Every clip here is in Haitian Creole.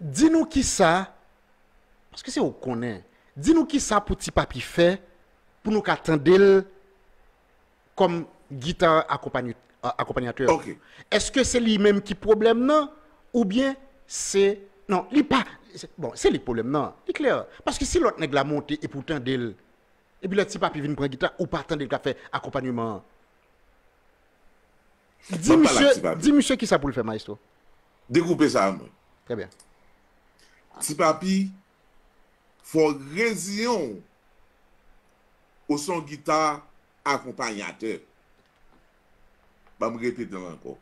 Di nou kisa, paske se ou k konnen, di nou kisa pou Ti Papi fè pou nou ka tande l kòm gita akonpanyatè ou? Èske se li menm ki pwoblèm nan oubyen se, non li pa, bon se li k pwoblèm nan, li klè, paske si lòt nèg la monte epi ou tande l, epi lè Ti Papi vin pran gita ou pa tande l k ap fè akonpanyeman an. Di misye, di misye kisa poul fè maestro. Dekoupe sa a mwen. Trè byen. Ti papi fò w reziyen w o son gita akonpanyatè. Ban m repete l ankò.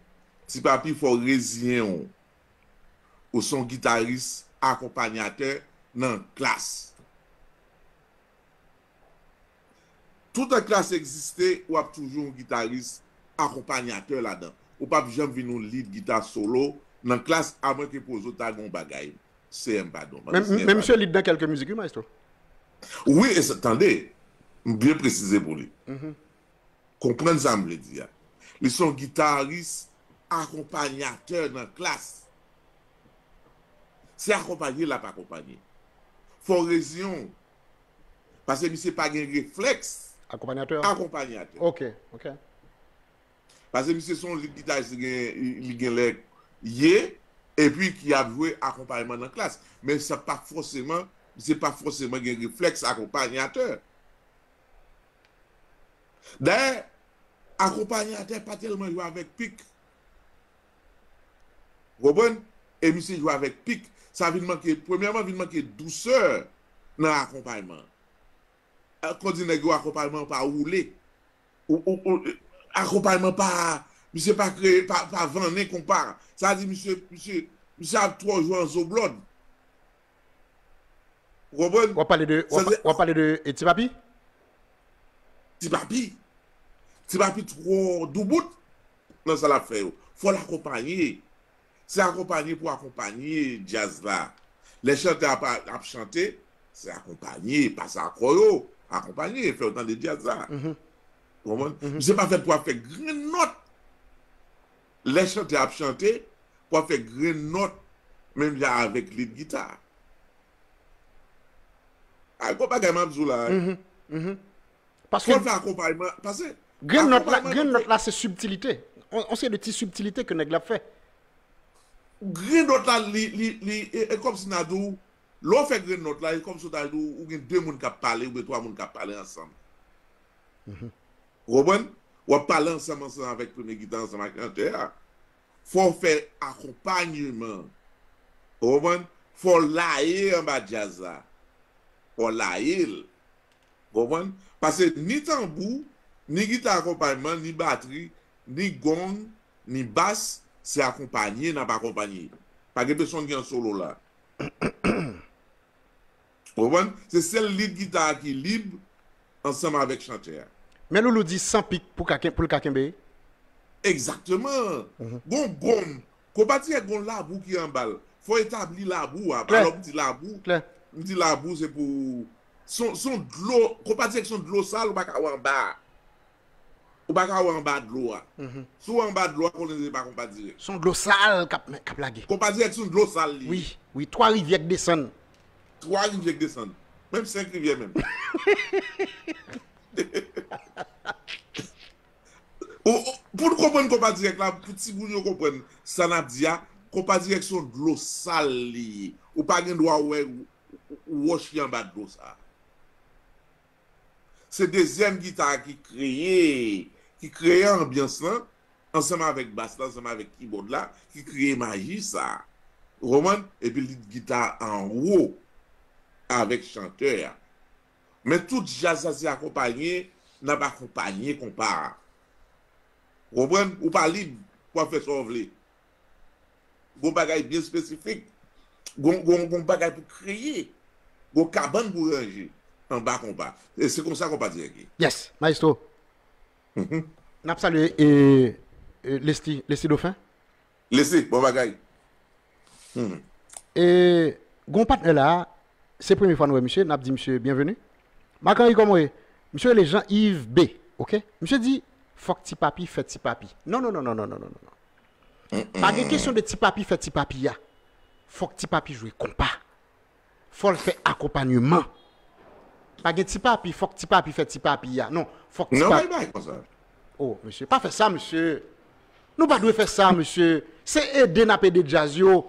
Ti papi fò w reziyen w o son gitaris akonpanyatè nan klass. Toutan klass egziste, w ap toujou yon gitaris akonpanyatè ladan. Ou p ap janm vin yon lead gita solo nan klass amwenke Pozo ta gen yon bagay. CM padon. Mande CM padon. Men misye lead nan kèlke mizik wi maestro. Wi e se, tande, m byen presize pou li. Konprann sa m vle di a. Li se yon gitaris akonpanyatè nan klass. Se akonpanye l ap akonpanye. Fò w reziyen w Pase misye pa gen refleks akonpanyatè. Pase misye son lit gitajis li gen lè ye epi ki ap jwe akonpayman nan klas. Men sa pa fòseman, misye pa fòseman gen refleks akonpanyatè. Dayè, akonpanyatè pa tèlman jwe avèk pik Ou konprann? E misye jwe avèk pic. Sa vin manke, premyèman vin manke dousè nan akonpayman an. Kon di nèg yo akonpayman an pa woule. Akonpayman pa, misye pa kreye, pa vannen konpa. Sa di misye, misye, misye ap twò jwe an zo blòd. Ou konprann? Wap pale de, wap pale de Ti Papi? Ti Papi. Ti Papi twò doubout. nan sa lap fè yo fòl akonpanye se akonpanye pou akonpanye djaz la lè chantè a ap chante se akonpanye pase akò yo akonpanye fèw tande djaz la ou konprann misye pa fèt pou ap fè grenn nòt lè chantè a ap chante pou ap fè grenn nòt menm jan avèk lead gita a gwo bagay map di w la. Paske. Fot la akonpayman, pase. Grenn nòt la, grenn nòt la se sibtilite. On seri de ti sibtilite ke nèg la ap fè. Grenn nòt la li, li, li, e kòm si na di w, lè w fè grenn nòt la, e kòm si w ta di w, ou gen 2 moun k ap pale oubyen 3 moun k ap pale ansanm. Ou konprann? W ap pale ansanm, ansanm avèk premye gita, ansanm ak chantè a. Fò w fè akonpayman. Ou konprann? Fò w laye anba djaz la. Fò w laye l. Ou konprann? Pase ni tanbou, ni gita akonpayman, ni batri, ni gong, ni bas, se akonpanye n ap akonpanye. Pa gen pesonn ki an solo la. Ou konprann? Se sèl lid gita a ki lib ansanm avèk chantè a. Men Loulou di san pik pou ka pou l ka kenbe? Egzakteman! Gon gonm, konpa di e gon labou ki anba l. Fò etabli labou a. Klè! Alò m di labou, Klè! m di labou se pou Son dlo, konpa di ak son dlo sal ou pa ka wè anba a. Ou pa ka wè anba dlo a. Si w wè anba dlo a, konnen se pa konpa dirèk. Son dlo sal k ap lage. Konpa dirèk son dlo sal li ye. Wi, twa rivyè k desann. Twa rivyè k desann. Menm senk rivyè menm. Pou n konprann konpa dirèk la, pou timoun yo konprann sa n ap di a, konpa dirèk son dlo sal li ye. Ou pa gen dwa wè wòch ki anba dlo sa a. Se dezyèm gita a ki kreye, ki kreye anbyans lan, ansanm avèk bas la, ansanm avèk kibòd la, ki kreye maji sa a. Ou konprann? Epi lit gita a anwo avèk chantè a. Men tout jazz la se akonpanye, n ap akonpanye konpa a. Ou konprann? Ou pa lib pou ap fè sa w vle. Gon bagay byen espesifik, gon bagay pou kreye, gon kabann pou ranje anba konpa. Se konsa konpa dirèk ye. Yes, maestro. N ap salye Lesly, Lesly Dauphin. Lesly, bon bagay. E gon patnè la a, se premye fwa nou wè misye, n ap di misye byenveni. Marc Henry kòman w ye? Misye rele Jean Yves B. Ok. Misye di, fòk Ti Papi fè Ti Papi. Nonnonnonnonnonnonnon. Pa gen kesyon de ti papi fè ti papi ya fòk ti papi jwe konpa fòl fè akonpanyeman pa gen ti papi fòk ti papi fè ti papi ya non fòk ti papi oh mesye pa fè sa mesye nou pa dwe fè sa mesye se ede nap ede djaz yo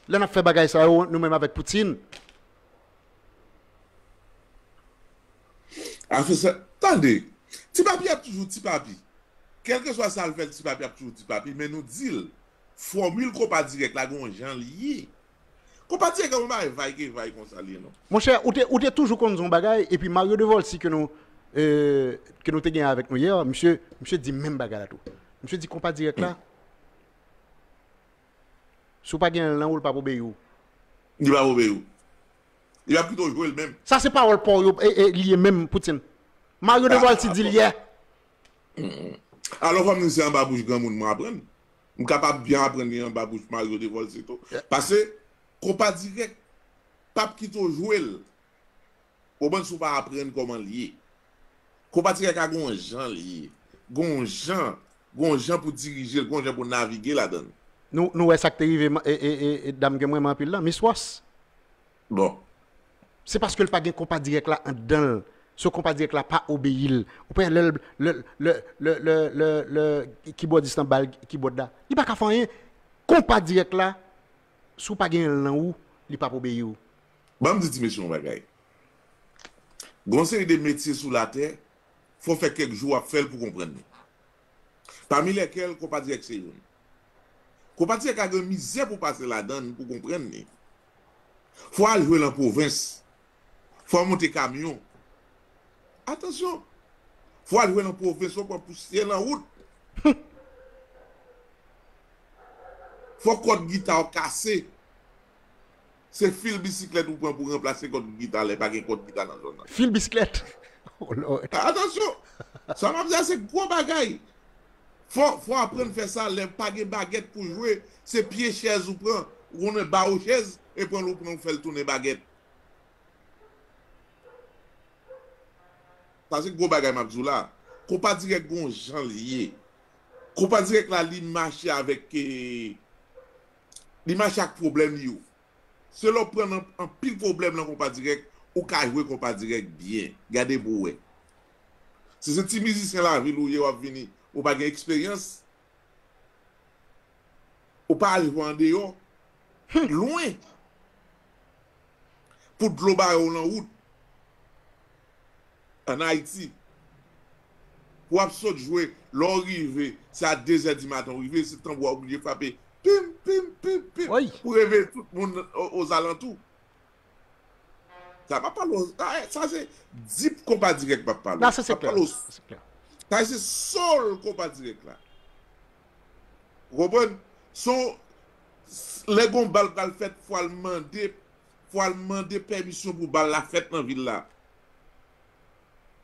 lè nap fè bagay sa yo nou menm avèk poutine. Afè sa, tande! Ti Papi ap toujou Ti Papi. Kèlkeswa sa l fè, Ti Papi ap toujou Ti Papi. Men nou di l, fòmil konpa dirèk la gen yon jan l ye. Konpa dirèk la pa yon bagay vay ke vay konsa l ye non. Monchè, ou te ou te toujou konn di yon bagay, epi Mario Devolcy ke nou ke nou te gen avèk nou hier, misye misye di menm bagay la tou. Misye di konpa dirèk la, si w pa gen l nan ou, l p ap obeyi w. Li p ap obeyi w. Yo ap pito jwe l menm. Sa se pawòl paw yo li ye menm Poutine. Mario Deval ti di l yè. Alò fò m di se anba bouch granmoun mwen aprann. M kapab byen aprann li anba bouch Mario Deval si tou. Pase konpa dirèk pap kite w jwe l. Bon bann si w pa aprann kòman l ye. Konpa ti kaka gon jan l ye. Gon jan, gon jan pou dirije l, gon jan pou navige ladan l. Nou, nou wè sa k te rive ma, e, e, e dam ke m renmen anpil lan, Miss Ross? Bon. Se paske l pa gen konpa dirèk la anndan l. So konpa dirèk la pa obeyi l. Ou pa wè lè l, lè l, lè, lè, lè, lè, lè kibòdis lan ba l kibòd la? Li pa ka fè anyen. Konpa dirèk la, si w pa genyen l nan ou, li p ap obeyi w. Ban m di ti mesye yon bagay. Gen yon seri de metye sou latè, fò w fè kèk jou w ap fè l pou w konprann li. Pami lèkèl konpa dirèk se youn. Konpa dirèk a gen mizè pou w pase ladan l pou w konprann li. Fò w al jwe l an pwovens. Fò w monte kamyon. Atansyon! Fò w al jwe l an pwovens, fò w pran pousyè nan wout. Fò kòd gita w kase. Se fil bisiklèt ou pran pou ranplase kòd gita lè pa gen kòd gita nan zòn nan. Fil bisiklèt? Oh Lord! Atansyon! Sa m ap di a se gwo bagay. Fò, fò aprann fè sa lè pa gen bagèt pou jwe, se pye chèz ou pran, ou konnen bawo chèz, e pran l ou pran ou fè l tounen bagèt. Sa se gwo bagay m ap di w la. Konpa dirèk gen yon jan l ye. Konpa dirèk la li mache avèk Li mache ak pwoblèm yo. Se lè w pran nan anpil pwoblèm nan konpa dirèk ou ka jwe konpa dirèk byen. Gade pou w wè. Si se ti mizisyen lavil ou ye w ap vini ou pa gen eksperyans, ou pa al jwe andeyò, lwen, pou dlo bare w nan wout, ann Ayiti. pou ap sot jwe lè w rive se a dezè di maten w rive se tanbou a ou blije frape pim pim pim pim pou reveye tout moun ozalantou sa pa pale w sa se deep konpa dirèk m ap pale w sa pa pale w sa se soul konpa dirèk la ou konprann son lè gon bal pral fèt fwa l mande fwa l mande pèmisyon pou bal la fèt nan vil la.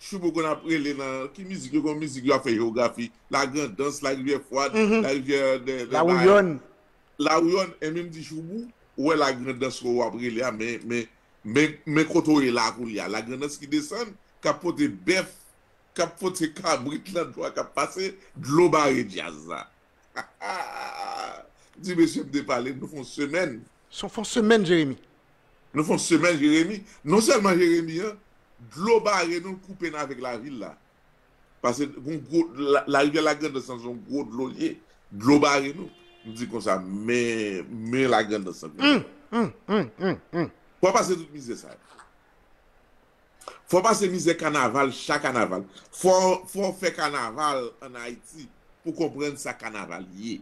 Choubo konn ap rele nan ki mizik yo gen yon mizik yo ap fè jewografi la grandans la rivyè fwad la rivyè dè dè lawouyòn lawouyòn enben m di choubou ou wè la grandans wè w ap rele a men men men men kote w ye la a koulye a la grandans ki desann k ap pote bèf k ap pote kabrit lan dlo a k ap pase dlo bare djaz la Di mesye m te pale nou fon semèn. Son fon semèn jeremi. Nou fon semèn jeremi. Non sèlman jeremi an dlo bare nou l koupe n avèk lavil la. Pase gon gwo larivyè lagrandans lan son gwo dlo l ye. Dlo bare nou. M di konsa men men lagrandans lan konsa. Pou a pase tout mizè sa yo. Fò w pase mizè kanaval cha kanaval. Fò fò w fè kanaval an Ayiti pou w konprann sa kanaval ye.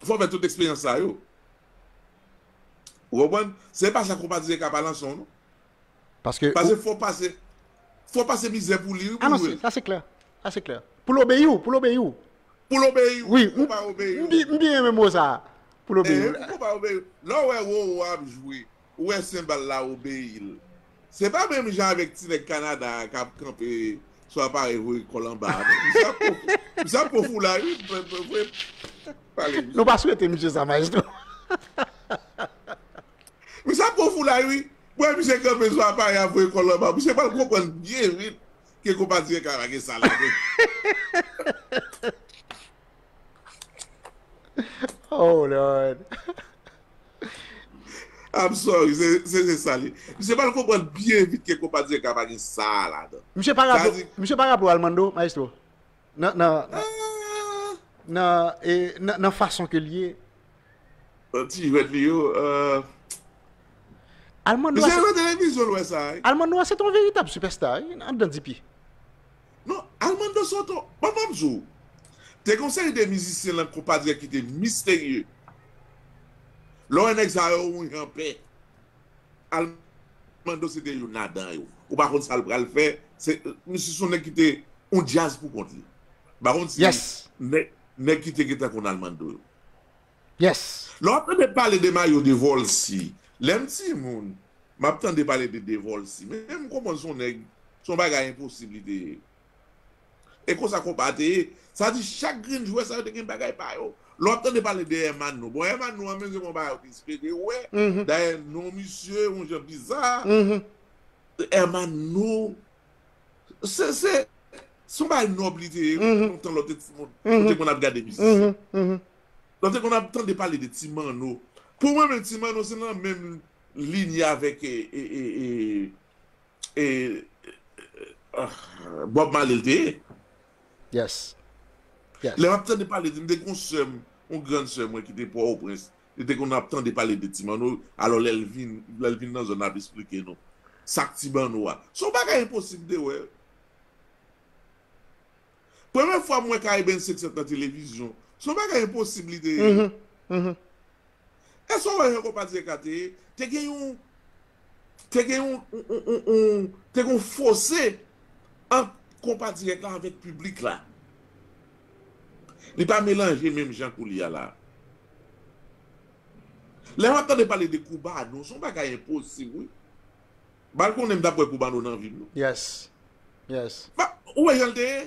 Fò w fè tout eksperyans sa yo. Ou konprann? Se pa sa konpa di e ka pa nan son w non. Paske ou. Pase fò w pase fò w pase mizè pou li wi pou w jwe l. Sa se klè. Sa se klè. Pou l obeyi w. Pou l obeyi w. Pou l obeyi w. Pou konpa obeyi w. M byen renmen mo sa a. Pou l obeyi w. Pou konpa obeyi w. Lè w wè Roro ap jwe Ou wè senbal la obeyi l. Se pa menm jan avèk ti nèg Kanada a k ap kanpe sou aparèy voye kò l anba a non. Misye ap pwofou, misye ap pwofou la wi. Voye pale misye. Nou pa swete misye sa Maestro. Misye ap pwofou la wi. M wè misye kanpe sou aparèy a voye kò l anba. Misye pral konprann byen vit ke konpa dirèk la pa gen sa ladan l. Oh lord. I'm sorry, se se sa li. Misye pa konprann byen vit ke konpa Djeka pa gen sa a ladan. Misye pa raple w, misye pa raple w Almando, maestro? Nan, nan, nan, e, nan, nan fason ke l ye. Nan ti jwèt li yo, uh. Almando a se. Misye nan televizyon l wè sa a wi. Almando a se te yon veritab sipèsta wi, andan DP. Non, Armando Soto, bon m ap di w, te gen yon seri de mizisyen lan konpa dirèk ki te misterye. Lè w wè nèg sa yo yon jan pè, Armando se te youn ladan yo. Ou pa konn sa l pral fè, se, misye se yon nèg ki te yon djaz pou kont li. M pa konn si nèg ki te gen tan konn Armando yo. Yes! Lè wap tande pale de mayo de volcy lèm ti moun map tande pale de de volcy men m konprann son nèg son bagay enposib li te ye e konsa konpa te ye sa vle di chak grenn jwè sa yo te gen bagay pa yo lè wap tande pale de Hermano bon Hermano an menm se yon bagay ou te espere wè dayè non misye yon jan biza. Hermano se se son bagay nòb li te ye lontan lè w te ti moun ou te konn ap gade mizisyen Lè w te konn ap tande pale de ti manno, pou mwen menm ti manno se nan menm linye avèk Bob Marley l te ye. Yes. Yes. Lè m ap tande pale de, m te gen yon sè m, yon grann sè mwen ki te Pòtoprens, li te konn ap tande pale de ti manno, alò lè l vin, lè l vin nan zòn nan l ap esplike nou sa k ti manno a. Se yon bagay enposib de wè. Premye fwa m wè Caribbean 500 nan televizyon. Se yon bagay enposib li te ye. Èske w wè jan konpa Dierka te ye? Te gen yon, te gen yon, te gen yon fose ant konpa dirèk la avèk piblik la. Li pa melanje menm jan koulye a la. Lè m ap tande pale de Cubano, se yon bagay enposib wi. Bal konnen m tap wè koubano nan vim non. Yes yes. Ba ou wè janl te ye.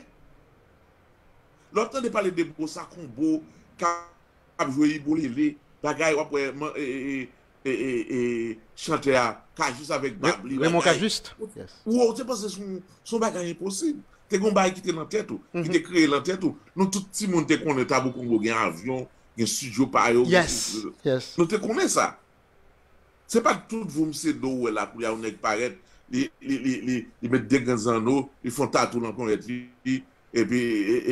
Lè wap tande pale de bossa combo kap jwe ibolele bagay wap wè man ee chantè a cajuste avèk bab li bagay ou te panse son bagay enposib te gon bagay ki te nan tèt ou ki te kreye nan tèt ou nou tout ti moun te konnen tabou combo gen avyon gen studio pa yo nou te konnen sa Se pat tout voum se do ou wè la koulya yon nèg parèt li li met de grenn zanno li fon tatou lan ponyèt li epi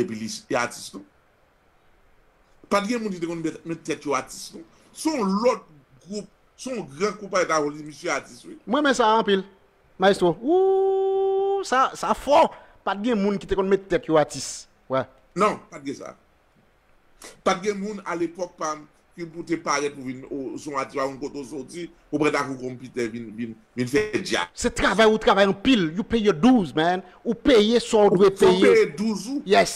epi li atis non pat gen moun ki te konn met tèt yo atis non son lòt gwoup son gran konpayi ta konn di misye atis wi. M renmen sa anpil maestro ooh sa sa fò pat gen moun ki te konn met tèt yo atis wè. Non pat gen sa. Pa t gen moun alepòk pa m ki pou te parèt pou vin o son atis pa konn kote w soti pou pran ta kou konpitè vin fè djak. Se travay ou travay anpil you pay your dues man ou peye sa w dwe peye. Fò w peye dues ou. Yes.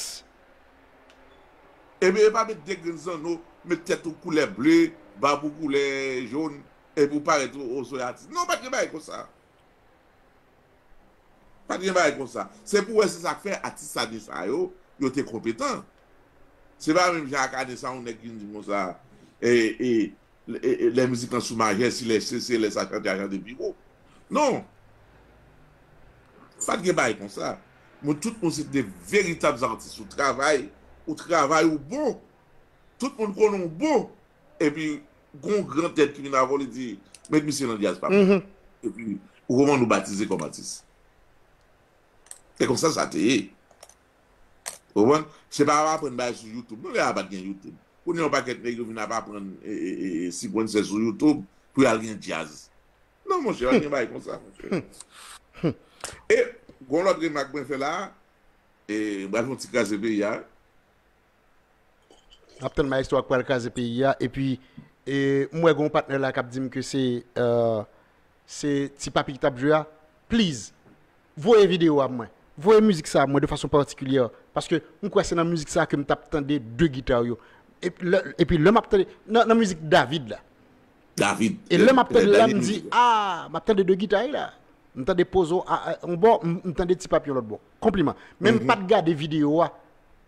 Epi epa met de grenn zanno, met tèt ou koulè ble, bab ou koulè jaune epi w parèt o son atis. Non pa t gen bagay konsa. Pa t gen bagay konsa. Se pou w wè se sa k fè atis ane sa yo, yo te konpetan. Se pa menm jan ak ane sa a yon nèg vin di m konsa, Lè mizik lan sou majè, si lè se, se lè sa chante a chante pi wo. Non! Pa t gen bagay konsa. Moun tout moun se te de veritab zatis. Ou travay, ou travay ou bon. Tout moun konnen w bon. Epi. Gon gran tèt ki vin avèw li di met misye nan djaz papa. Epi Roman nou batize kòm atis. Se konsa sa te ye. Ou konprann? Se pa ap aprann bagay sou YouTube non lè a pat gen YouTube. Kounya yon pakèt nèg yo vin ap aprann sipwennse sou YouTube pou yal gen djaz. Non monchè pat gen bagay konsa monchè. E gon lòt remak mwen fè la a, e m pral fè yon ti kraze peyi a. Map tann maestro a ki pral kraze peyi a epi m wè gen yon patnè la kap dim ke se se ti papi ki tap jwe a please voye video a pou mwen voye mizik sa pou mwen de fason patikilyè paske m kwè se nan mizik sa ke m tap tande 2 guitar yo epi lè map tande nan mizik David la e lè map tande la m di aah map tande 2 guitar la m tande pozo yon bò m tande ti papi yon lòt bò konpliman men m pat gade video a.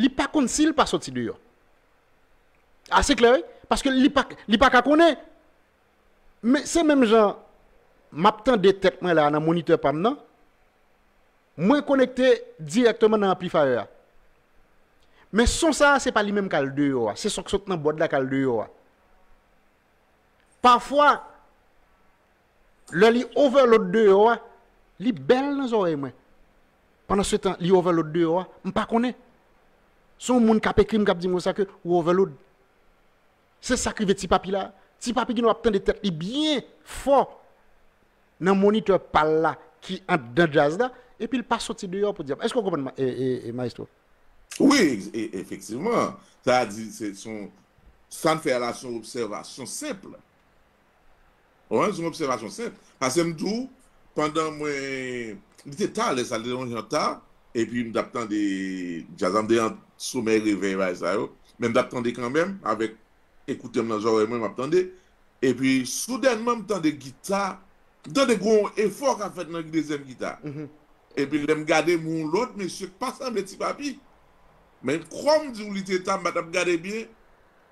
li pa konn sil pa soti deyò ase klè wi paske li pa li paka konnen men se menm jan map tande tèt mwen la nan monitè pam nan mwen konekte dirèkteman nan anplifayè a men son sa se pa li menm kal deyò a se son k sot nan bòd la kal deyò a pafwa Lè li overload deyò a, li bèl nan zòrèy mwen. Pandan se tan li overload deyò a, m pa konnen. Se yon moun k ap ekri m k ap di m konsa ke ou overload. Se sa k rive Ti Papi la a. Ti Papi ginlè w ap tande tèt li byen fò nan monitè pa l la ki anndan djaz la epi l pa soti deyò podyab. Èske w konprann m Maestro? Wi, efektivman. Sa a di se son, sa n fè a la se yon obsèvasyon senp. Oran son obsèvasyon senp. Pase m tou, pandan mwen, li te ta lè sa, li te yon jan ta, epi m t ap tande djaz la, m te ant somèy revèy bagay sa yo, men m t ap tande kanmenm avèk ekoutè m nan zòrèy mwen, m ap tande, epi soudènman m tande gita, m tande gen yon efò k ap fèt nan dezyèm gita a, epi lè m gade m wè yon lòt mesye k pa sanble Ti Papi, men kòm m di w li te ta, m pa t ap gade byen,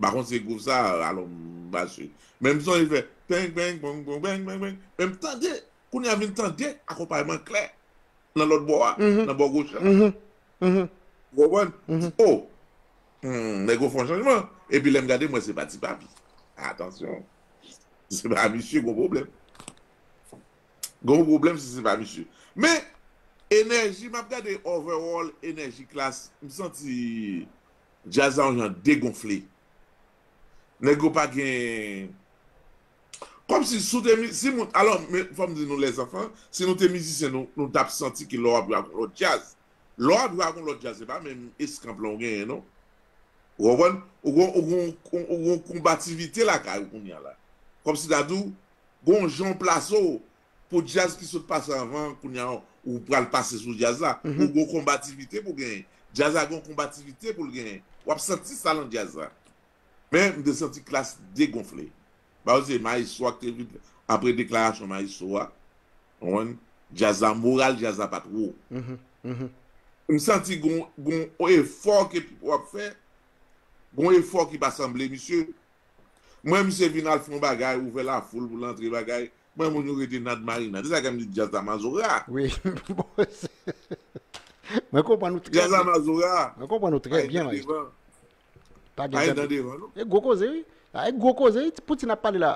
Bakon se group sa alon mache men m sonje fè peng peng pong pong peng peng peng men m tande kounya vin tande akonpayman klè nan lòt bò a nan bò goch la ou konprann m di oh humm nèg yo fon chanjman epi lè m gade m wè se pa ti papi atansyon si se pa misye gon pwoblèm gon pwoblèm si se pa misye men enèji m ap gade overall enèji klass m santi. Jazz la yon jan degonfle. Nèg yo pa gen. Kòmsi si w te mi, si moun, alò men fò m di nou lèzanfan, si nou te mizisyen nou, nou t ap santi ke lè w ap jwe ak yon lòt jazz. Lè w ap jwe ak yon lòt jazz se pa menm eskanp lan w genyen non. Ou konprann? Ou gen ou gen yon konbativite lakay ou kounya la. Kòmsi ta di w gen yon jan w plase w, Pou djaz ki sot pase anvan an kounya ou pral pase sou djaz la ou gon konbativite pou genyen djaz la gon konbativite poul genyen wap santi sa lan djaz la men m te santi klass degonfle baww se maestro a ki te vin apre deklarasyon maestro a ou konprann djaz la moral djaz la pat wo m santi gon gon efò ke pipo ap fè gon efò ki pa sanble misye m wè misye vin al fon bagay ouvè lafoul pou l antre bagay Mwen moun yo rete nad marina. Se sa kèm di djaz la mazora. Wi Mwen konprann ou trè byen. Djaz la mazora. Mwen konprann ou trè byen maestro. Pa gen dan devan non. E gwo koze wi. La e gwo koze wi poutine ap pale la.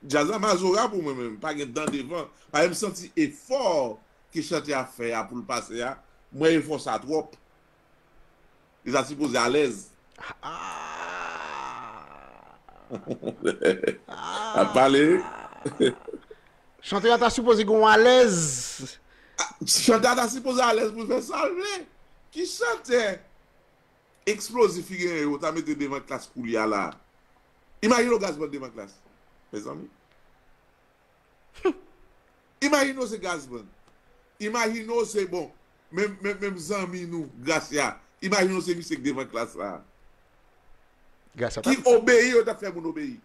Djaz la mazora pou mwen menm. Pa gen dan devan. Paske m santi efò ke chantè a fè a poul pase a. M wè efò sa twòp. Li ta sipoze alèz. Ap pale. Chantè a ta sipoze gen yon alèz. Chantè a ta sipoze alèz pou l fè sa l vle. Ki chantè eksplozif ki genyen yo ta mete devan klas koulye a la a? Imajine yon gazman devan klas, mezanmi. Humm! Imajine w se Gazman. Imajine w se bon, menm zanmi nou Gracia. Imajine w se misye ki devan klas la. Gracia tap di sa. Ki obeyi yo tap fè moun obeyi.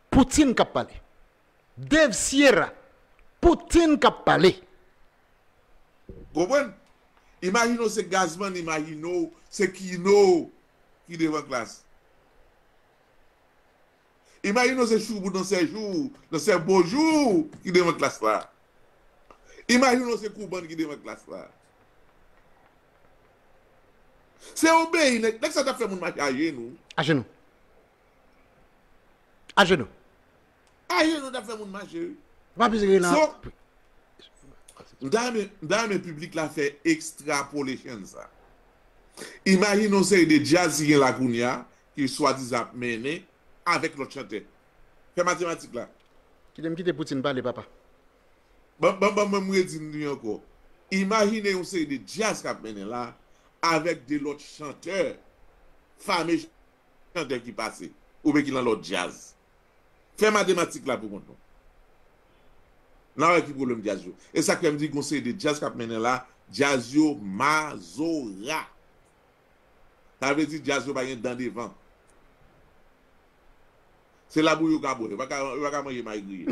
Poutine kap pale. Dave Sierra, Poutine kap pale. Konprann? Imajine w se Gazman, imajine w se Kino ki devan klas. Imajine w se Choubou nan sè jou, nan sè bonjou ki devan klas la. Imajine w se Kouban ki devan klas la. Se obeyi nèg, nèg sa t ap fè moun mache ajenou. Ajenou. Ajenou. Ajenou t ap fè moun mache wi. M pa plis rele nan. So, m ta renmen, m ta renmen piblik la fè extrapolation sa. Imajine yon seri de djaz ki gen la kounya, Ke swadizan ap mennen avek lot chantè. Fè matematik la. Kite m kite Poutine pale papa. Bon bon bon banm redi m di anko. Imajine yon seri de djaz kap mennen la avek de lot chantè fame chantè ki pase oubyen ki lan lot djaz. Fè matematik la pou kont nou. Nan wè ki pwoblem djaz yo. Esak fè m di gon seri de djaz kap mennen la djaz yo mazora. Sa vle di jazz yo pa gen dan devan. Se labou yo ka bwè. Yo pa ka manje may griye.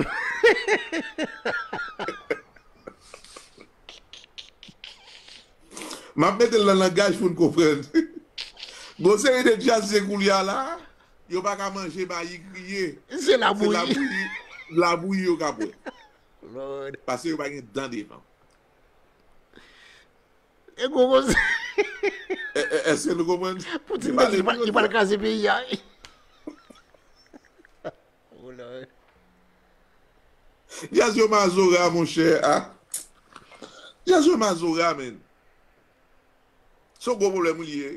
M ap mete l nan langaj pou n konprann. Gon seri de jazzye koulye a la, yo pa ka manje mayi griye. Se labouyi. Labouyi yo ka bwè. Lord. Pase yo pa gen dan devan. E gwo koze. Eske nou konprann? Poutine te di li pral kraze peyi a. Djaz yo mazora monchè a. Djaz yo mazora men. Se yon gwo pwoblèm wi li ye.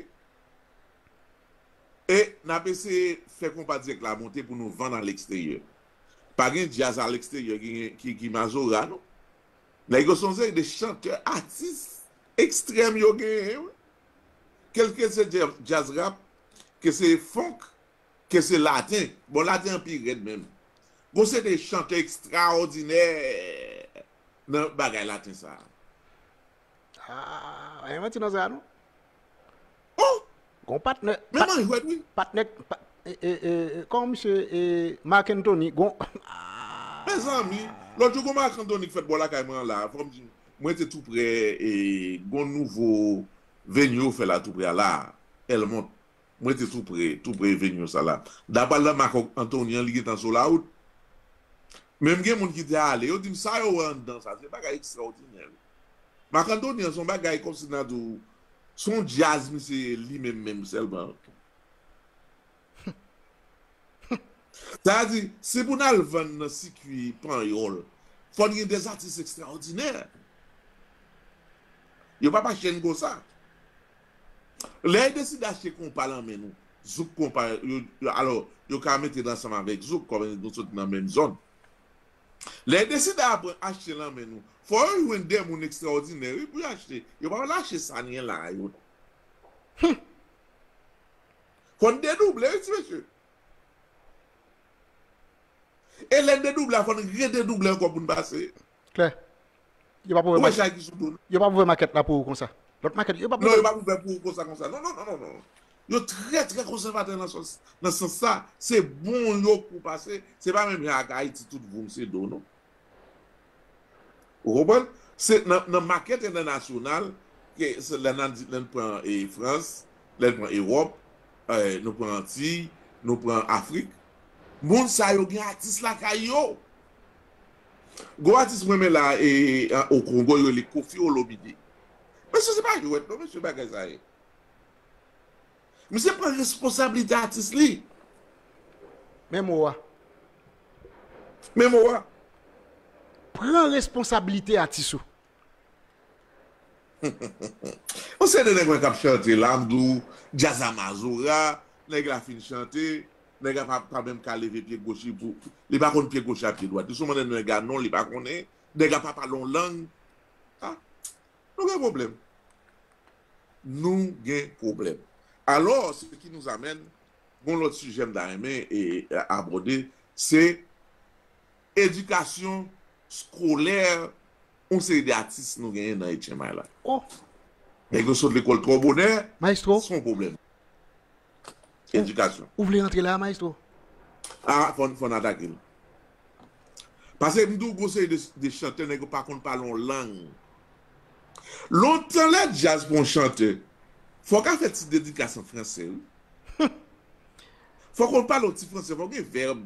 E nap eseye fè konpa dirèk la monte pou nou vann aleksteryè. Pa gen djaz aleksteryè ki gen ki mazora non. Nèg yo se yon seri de chantè atis ekstrèm yo genyen wi. Ke l ke se djaz rap, ke se funk, ke se laten, bon laten an pi rèd menm. Gon seri de chantè ekstraòdinè nan bagay laten sa a. Ah, yon manti nan sa non. Oh! Gon patnè. Men man jwèt wi. Patnè pa, e, e, e, kòman misye e Marc Anthony gon ah. Mezanmi, lòt jou gon Marc Anthony ki fèt bò lakay mwen an la, fòm di nou. Mwen te tou prè e gon nouvo venue yo fè la tou prè a la, Elmont. M rete tou pre, tou pre Evenion sa la. Dapal nan makòk Antony an li gentan sou la wout. Men m gen moun ki te ale, yo di m sa yo wè anndan sa se bagay ekstraòdinè wi. Mak Antony an se yon bagay kòmsi nan di w se yon djaz misye ye li menm menm sèlman. Sa vle di, si pou n al vann nan sikui panyòl, fò n gen dèzatis ekstraòdinè. Yo pa pa chenn konsa. Lè yo deside achte konpa lan men nou, zouk konpa yo, alò, yo ka mete l ansanm avèk zouk, kòm nou soti nan menm zòn. Lè yo deside aprann achte lan men nou, fò yo jwenn de moun ekstraòdinè, wi, pou yo achte. Yo pa pral achte sa n gen la a yo non. Hum! Fò n dedouble, wi, ti mesye. E lè n dedouble a, fò n rededouble ankò pou n pase. Klè. Yo pap ouvè maket. Yo pap ouvè maket la pou ou konsa. Lòt maket yo pap ouvè. Non yo pap ouvè pou ou konsa konsa. Non non non non non. Yo trè trè konsèvatè nan sans nan sans sa. Se bon yo pou pase. Se pa menm jan ak Ayiti tout voum se do non. Ou konprann? Se nan nan maket entènasyonal ke se lè nan di lè n pran e Frans, lè n pran Ewòp, eh nou pran Antiy, nou pran Afrik. Moun sa yo gen atis lakay yo. Gwo atis m renmen la e an o kongo yo rele kofi olomide mesye se pa jwèt non mesye bagay sa ye misye pran responsablite atis li. Men mo a. Men mo a. Pran responsablite atis ou. Yon seri de nèg mwen kap chante la m di w djaz la mazora nèg la fin chante nèg la pa menm ka leve pye goch li pou li pa konn pye goch la pye dwat li sou mande nèg la non li pa konnen nèg la pa pale yon lang a nou gen pwoblèm nou gen pwoblèm alò se ki nous amène gon lòt sijè m ta renmen abòde se. Edikasyon skolè yon seri de atis nou genyen nan HMI la. Oh! Nèg yo sot lekòl twò bonè, Maestro! se yon pwoblèm. Edikasyon. Ou vle rantre la a Maestro? A, fò n atake l. Pase m di w gon seri de chantè nèg yo pa konn pale yon lang. Lontan lè djaz pou yon chantè, fò w ka fè ti dedikas an franse wi. Fò w konn pale yon ti franse, fò w gen vèb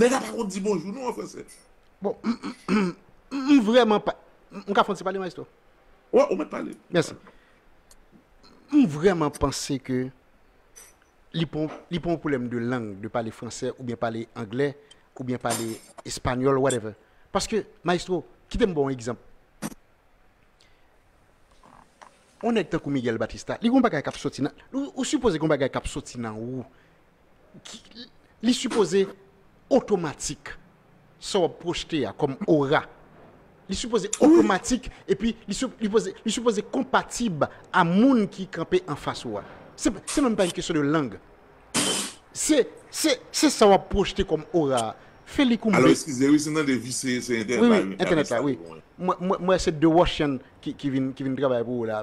Nèg a pa konn di bonjou non an fransè. Bon m vrèman pa M ka fè yon ti pale maestro? Wè ou mèt pale. Mèsi. M vrèman panse ke li pa li pa yon pwoblèm de lang, de pale fransè oubyen pale anglè oubyen pale espanyòl whatever. Paske maestro kite m ba w yon egzanp. Yon nèg tankou Miguel Batista li gen yon bagay k ap soti nan ou sipoze gen yon bagay k ap soti nan ou li sipoze otomatik sa wap pwojte a kòm ora li sipoze otomatik epi li sipoze konpatib a moun ki kanpe anfas ou a se menm pa yon kesyon de lang se sa wap pwojte kòm ora a fè li koumbe wi wi entènèt la wi mwen se de wòch ki vin travay pou ou la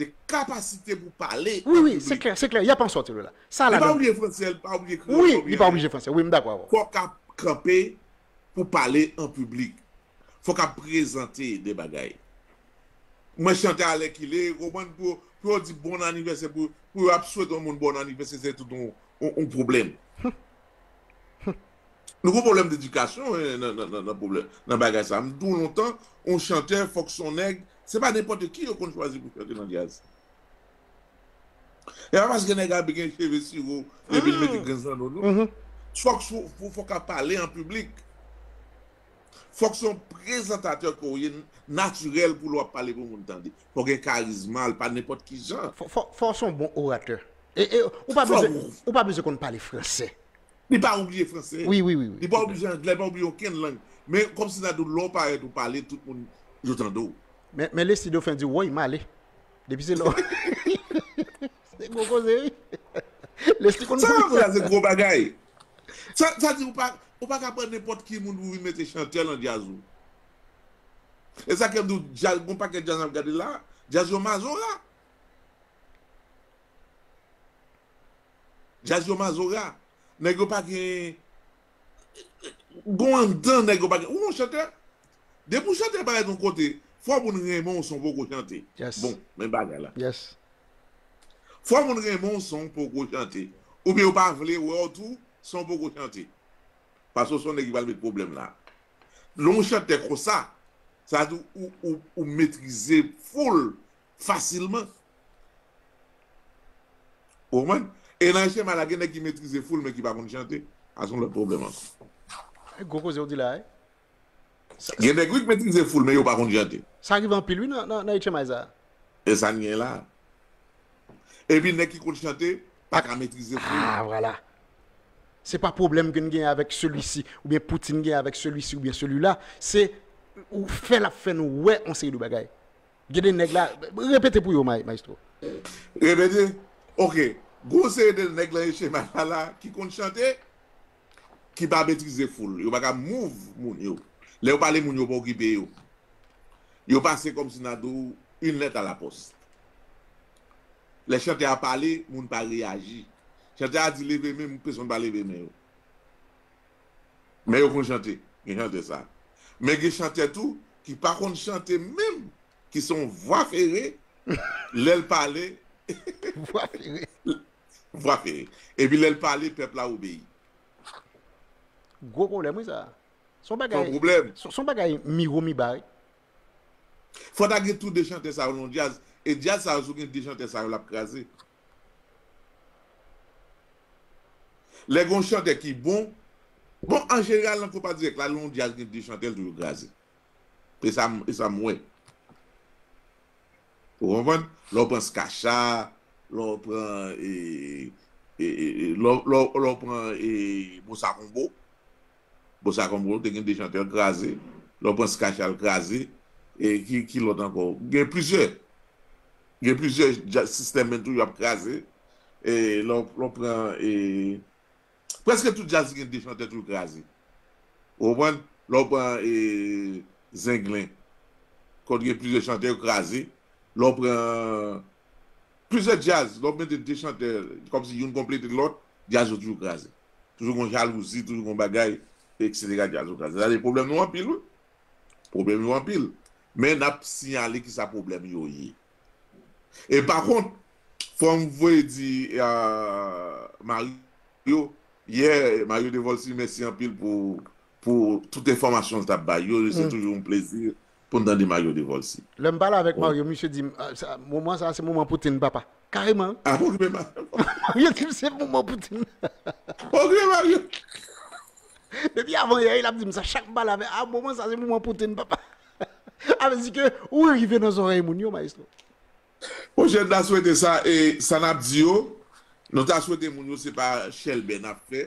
de kapasite pou pale an piblik. Wi, wi, se klè, se klè, y ap an sòti de la. Sa ladan. Li pa oblije franse, li pa oblije kreyòl, li pa oblije anglè. Wi, m dakò avè w. Fò k ap kanpe pou pale an piblik. Fò k ap prezante de bagay. Mwen chante alèkile, ou konprann, pou yo di bon anivèsè, pou yo ap swete yon moun bon anivèsè, se tout yon pwoblèm. Nou gon pwoblèm dedikasyon nan bagay sa. M di w lontan, yon chantè fòk s on nèg, se pa nenpòt ki yo konn chwazi pou chante nan djaz. E pa paske nèg a gen cheve siro epi l mete grenn zanno non. Fòk s ou ka pale an piblik. Fòk s on prezantatè ke w ye natirèl pou lè w ap pale pou moun tande. Fòk gen karizma, l pa nenpòt ki jan. Fòk s on bon oratè. E ou pa bezwen konn pale fransè. Li pa oubliye franse. Wi, wi, wi, wi. Li pa oubliye angle, li pa oubliye okenn lang. Men, kòm si sa di w lè w parèt ou pale, tout moun yo tande w. Men, men Leslie Dauphin di w, Woy, m ale. Depi se lè w. Se gwo koze, wi. Leslie konn Sa koze. la se gwo bagay. Sa, sa di ou pa, ou pa ka pran nenpòt ki moun pou vin mete chantè lan djaz ou. E sa kè m di w, djaz, gon pakèt djaz n ap gade la a, djaz yo mazora. Jazz yo mazora. Nèg yo pa gen Gon anndan nèg yo pa gen Ou gon chantè Depi ou chantè parèt yon kote Fò moun renmen w san w poko chante Bon men bagay la Fò moun renmen w san w poko chante Oubyen yo pa vle wè w tou san w poko chante Pase w se yon nèg ki pral met pwoblèm la Lè w chantè konsa Sa vle di ou metrize full fasilman. Ou konprann? E nan Eshema la gen nèg ki metrize foul men ki pa konn chante. A son lòt pwoblèm ankò. Gwo koze ou di la wi. Gen nèg wi ki metrize foul men yo pa konn chante. Sa rive anpil wi nan Echemay sa. E sa n gen la. Epi nèg ki konn chante pa ka metrize foul. Ah vwala. Se pa pwoblèm ke n genyen avèk selwisi oubyen Poutine genyen avèk selwisi oubyen selwila. Se ou fè l ap fè nou wè yon seri de bagay. Gen de nèg la, repete pou yo maestro. Repete, ok, gen yon seri de nèg lan Echema sa la ki konn chante, ki pa metrize foul, yo pa ka move moun yo, lè yo pale moun yo pa okipe yo, yo pase kòm si nan di w une lettre à la poste. Lè chantè a pale, moun pa reyaji, chantè a di leve men, peson pa leve men yo. Men yo konn chante, gen chantè sa. Men gen chantè tou ki pa konn chante menm ki se yon vwa fere lè l pale Vwa fere. vwa fere. Epi lè l pale pèp la obeyi. Gwo pwoblèm wi sa. Son Se yon bagay pwoblèm. son bagay miwo miba wi. Fò ta gen tou 2 chantè sa yo nan yon djaz e djaz sa yo si w gen 2 chantè sa yo l ap kraze. Lè gen yon chantè ki bon, bon an jeneral nan konpa dirèk la lè yon djaz gen 2 chantè l toujou kraze. E sa m e sa m wè. Ou konprann? Lè w pran Skasha, lè w pran e e e lè w lè w pran e Bossa Combo. Bossa Combo te gen 2 chantè l kraze, lè w pran Skah Shah l kraze, e ki ki lòt ankò, gen plizyè, gen plizyè dja System men tou yo ap kraze, e lè w lè w pran e prèske tout djaz ki gen 2 chantè tou l kraze. Ou konprann? Lè w pran e Zenglen kòt gen plizyè chantè yo kraze, lè w pran plizyè djaz lè w mete 2 chantè kòmsi youn konplete lòt djaz yo toujou kraze. toujou gon jalouzi toujou gon bagay etc jazz okaz sa vle problème nou anpil wi problème yo anpil men nap siyale kisa problème yo ye e pa kont fòm voye di Mario yè Mario Devolcy mèsi anpil pou pou tout enfòmasyonl tap bay yo se toujou yon plezi pou n tande Mario Devolcy. Lè m pale avèk Mario, misye di m, Moman sa a se moman Poutine, papa. Kareman! A pa okipe Mario non. Mario di m se moman Poutine. A pa okipe Mario. Depi avanyè, l ap di m sa chak m pale avè l, A moman sa a se moman Poutine, papa. A vle di ke ou rive nan zòrèy moun yo, Maestro. Monchè, n ta swete sa e sa n ap di yo, nou ta swete moun yo se pa chèlbè n ap fè,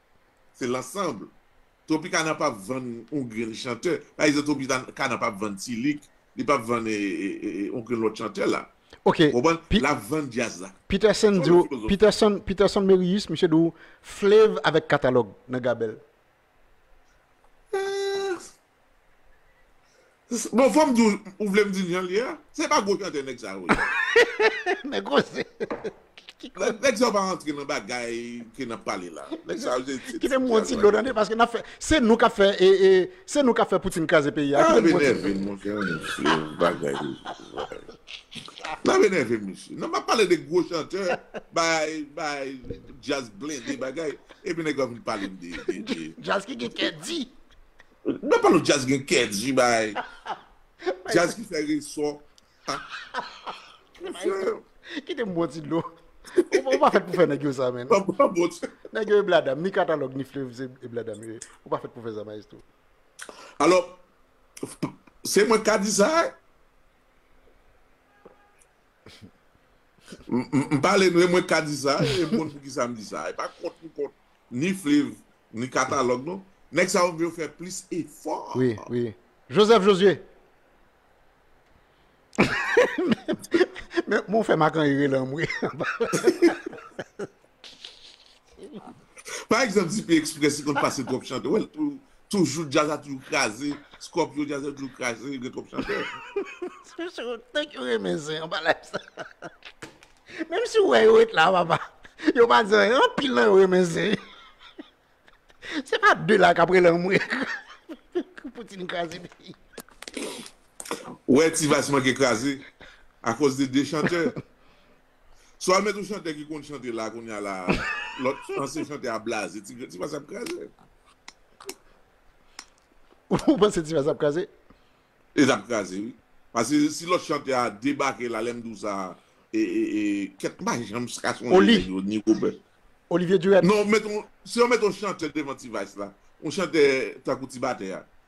Se l'ensemble. Tropicana pap vann on grenn chantè. Pa egzanp Tropicana pap vann T-Lick, li pap vann on grenn lòt chantè la. Ok. Ou konprann? L'ap vann djaz la. Peterson di w, Peterson, Peterson Merius, misye di w Flav avèk Katalòg nan Gabèl. Eeh! Bon fòm diw ou vlem dil janl ye a se pa gwo chantè nèg sa yo ye. Nèg koze ki koze. Nèg sa yo pa antre nan bagay ke nap pale la nèg sa yo se ti Kitem bwon ti dlo tande paske nap fè se nou kap fè se nou kap fè poutine kraze peyi a kitem bwon ti dlo. Nap enèvem monchè mesye bagay nap enèvem mesye nan map pale de gwo chantè bagay bagay djaz blende bagay epi nèg la vin palem de de de. Djaz ki gen kè di. Nan palo djaz gen kè di bay djaz ki fè reson Mesye. Kite m bwè yon ti dlo. Ou pa fèt pou fè nèg yo sa menn. Nèg yo e bladam, ni katalòg ni flev se e bladam yo ye. Ou pa fèt pou fè sa maestro. Alò, se mwen k ka di sa? M pale nou e mwen k ka di sa, e m konn poukisa m di sa. E pa kont m kont ni Fliv, ni Katalòg non. Nèg sa yo m vle yo fè plis efò. Wi, wi. Joseph Josué! Men, men w fè Makan rire lan m wi. Pa egzanp Dpi Express li konn pase twòp chantè ou wè l toujou djaz la toujou kraze Scorpio djaz yo toujou kraze gen twòp chantè. Tank yo renmen zen anba live sa Menm si ou wè yo ret la papa Yo pa di anyen Anpil nan yo renmen zen Se pa de la kap rele anmwe Poutine kraze peyi Ou wè T-vice manke kraze Akoz de 2 chantè Swa met ou chantè ki konn chante la kounye a la lòt ansyen chantè a blaze ti ti fas ap kraze. Ou panse ti fas ap kraze? E zap kraze wi. Pase si lòt chantè a debake la lèm di w sa e e e kèt m pa janm ka sonje nèg yo ni Robert. Olivier Durette. Non met on si yo met on chantè devan ti vice la on chantè tankou ti batè a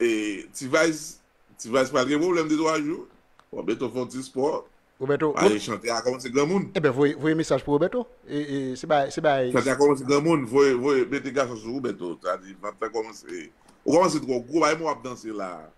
E T-vice, T-vice pral gen pwoblèm 2 3 jou. Roberto fè yon ti spò. Roberto, Rob. Pale chante a kòmanse granmoun. Eben voye, voye mesaj pou Roberto. E, e se bay, se bay. Chante a kòmanse granmoun, voye, voye mete gason sou Roberto. Sa di vant lan kòmanse, ou kòmanse twò gwo, bay mwen wap danse la.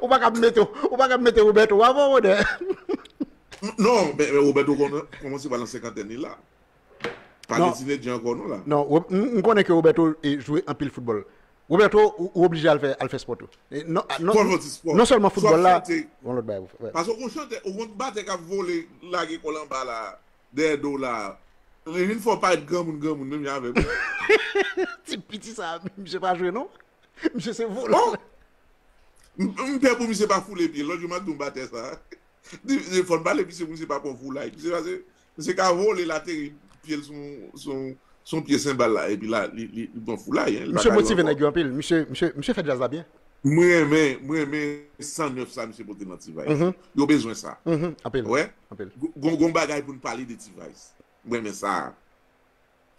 Ou pa kab mete ou pa kab mete Roberto avan Rode. Non, men Roberto kòmanse pran nan senkantèn li la. Pa gen tinedje ankò non la. Non, m konnen ke Roberto jwe anpil foutbòl. Roberto ou oblije al fè al fè spò tou. Fòl lòt espò. Non sèlman foutbòl la, gon lòt bagay pou fè. Paske ou gon chantè, ou gon batè kap vole lage kòl anba la, dèyè do w la. Li vin fè w parèt granmoun granmoun menm jan avèm. Ti piti sa, misye pa jwe non. Misye se vòlò. Oh! M pè pou misye pa foule pye. Lòt jou m ap di yon batè sa. Li fò n pale misye pou misye pa pran yon foulay. Misye pase, misye ka vole l ateri pye l sou yon pye senbal la epi la li pran foulay. Misye motive nèg yo anpil. Misye fè djaz la byen. M renmen, m renmen 109 sa misye pote nan T-Vice. Yo bezwen sa. Ou wè? Gon bagay pou n pale de T-Vice. M renmen sa a.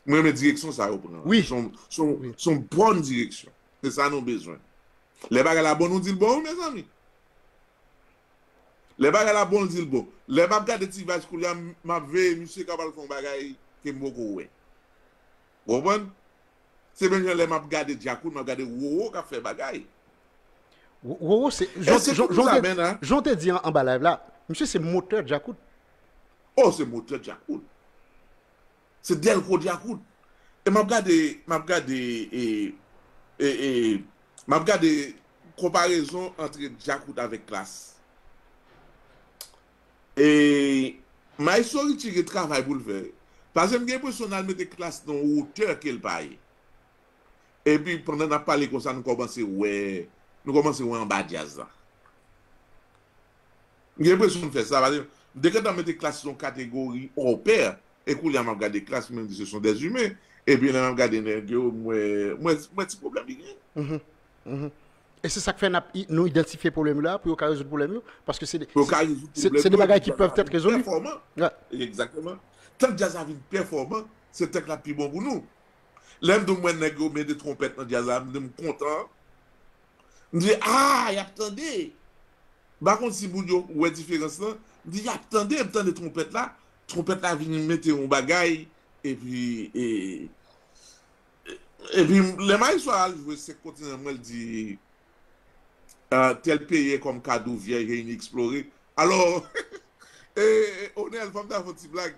Mwen renmen direksyon sa yo pran. Wi. Son bon direksyon. Se sa nou bezwen. Lè bagay la bon nou dil bon wi mezanmi. Lè bagay la bon l dil bon. Lè map gade ti vaj koulya map veye misye kap al fon bagay kem poko wè. Ou konprann? Se menm jan lè map gade djakout map gade roro kap fè bagay. Roro se jan ou te di anba live la misye se motè djakout. Oh se motè djakout. Se dèlko dyakout. E map gade map gade e e e map gade konparezon antre dyakout avèk klass. E maestro Richie gen travay poul fè wi. Pase m gen enpresyon nal mete klass nan yon wotè kel pa ye. Epi pandan nap pale konsa nou kòmanse wè nou kòmanse wè anba djazz la. M gen enpresyon m fè sa paske m te gentan mete klas sou yon kategori hors pair e koulye a m ap gade klas mwen di se son des humains epi lè m ap gade nèg yo m wè m wè ti pwoblèm li genyen. Mh mh e se sak fè nap nou idantifye pwoblèm yo la pou yo ka rezoud pwoblèm yo paske se Pou yo ka rezoud pwoblèm yo se de bagay ki pèv tèt rezoli pèfòman egzakteman tank djaz la vin pèfòman se tank lap pi bon pou nou lè m di w m wè nèg yo mete twonpèt nan djaz la m di m kontan M di, Aah, y ap tande! M pa konn si moun yo wè diferans lan. M di, Y ap tande! M tande twonpèt la. Twonpèt la vin mete yon bagay, epi, e, epi lè Maestro a al jwe Senk Kontinan an, m wè l di, Tèl peye kòm kado vyèj e ineksplore. Alò, e, Onèl, fò m ta fè yon ti blag,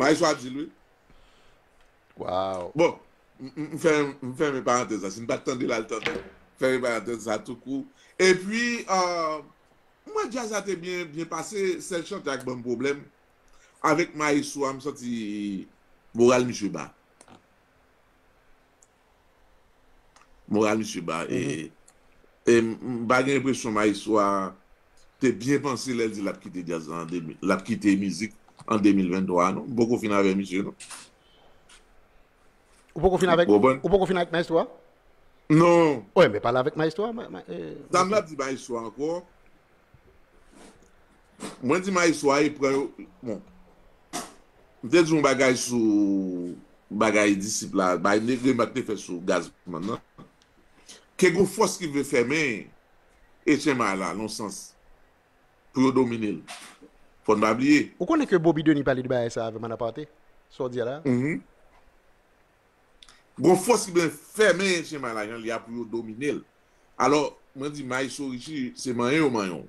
Maestro a di l wi. Waw. Bon, m fèmen parantèz la. Si n pa t tande l al tande l. M fèmen parantèz sa tou kou. E pi, m wè djaz la te byen pase. Sèl chante a k banm pwoblèm. Avèk maestro a m santi moral misye ba. Moral misye ba e m pa gen enpresyon maestro a te byen panse lè l di l ap kite djaz la l ap kite mizik an 2023 a non. M poko fin avè misye non. Ou poko fin avèk, ou poko fin avèk maestro a? Non. Ou e men pale avèk maestro a. Sa m ap di maestro a ankò. Mwen di maestro a e pran yo bon m te di yon bagay sou bagay disip la bay remak m te fè sou Gazzman nan ke gon fòs ki vle fèmen Etchenmay la lon sans pou yo domine l fò n pa bliye. Ou konnen ke Boby Denis pale de bagay sa avè m an aparte sa w di a la. Uhmm gon fòs ki blen fèmen Etchenmay la jan l ye a pou yo domine l alò mwen di maestro Richie se manyen yo manyen w.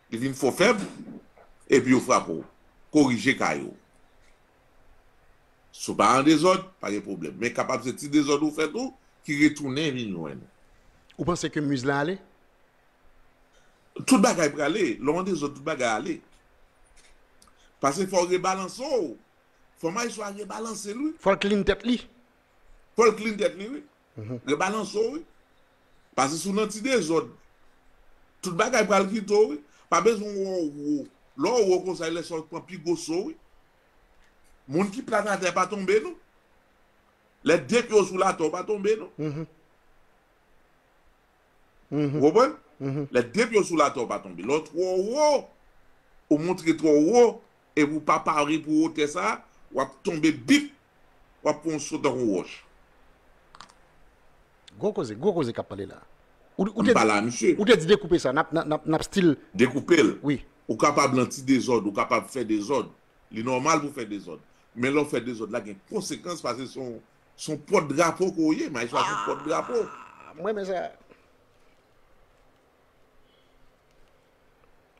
Li vin fò fèb, epi yo frape w. Korije kay ou. Si w pa an dezòd, pa gen pwoblèm. Men kapab se ti dezòd ou fè tou ki retounen vin jwenn ou. Ou panse ke Muse la ale? Tout bagay prale. Lè w an dezòd, tout bagay ale. Pase fò w rebalanse w. Fò Maestro a rebalanse l wi. Fò l clean tèt li. Fò l clean tèt li wi. Rebalanse w wi. Pase si w nan ti dezòd. Tout bagay pral kite w wi. Pa bezwen wè w wo. Lè w wo konsa e lè sa w pran pi gwo so wi. Moun ki plat atè pa tonbe non. Lè de pye w sou latè w pa tonbe non. Ou konprann? Lè depi yo sou latè ou pa tonbe. Lè w twò wo, ou montre twò wo, epi ou pa pare pou wotè sa a, w ap tonbe bip! W ap pran yon so tankou yon wòch. Gwo koze, gwo koze k ap pale la. An n pale a misye. Ou te di dekoupe sa, n ap stil. Dekoupe l. Wi. Ou kapab lan ti dezòd, ou kapab fè dezòd. Li nòmal pou w fè dezòd. Men lè w fè dezòd la gen konsekans paske se yon Son pot drapo ke w ye maes la son pot drapo. Ahh m renmen sa.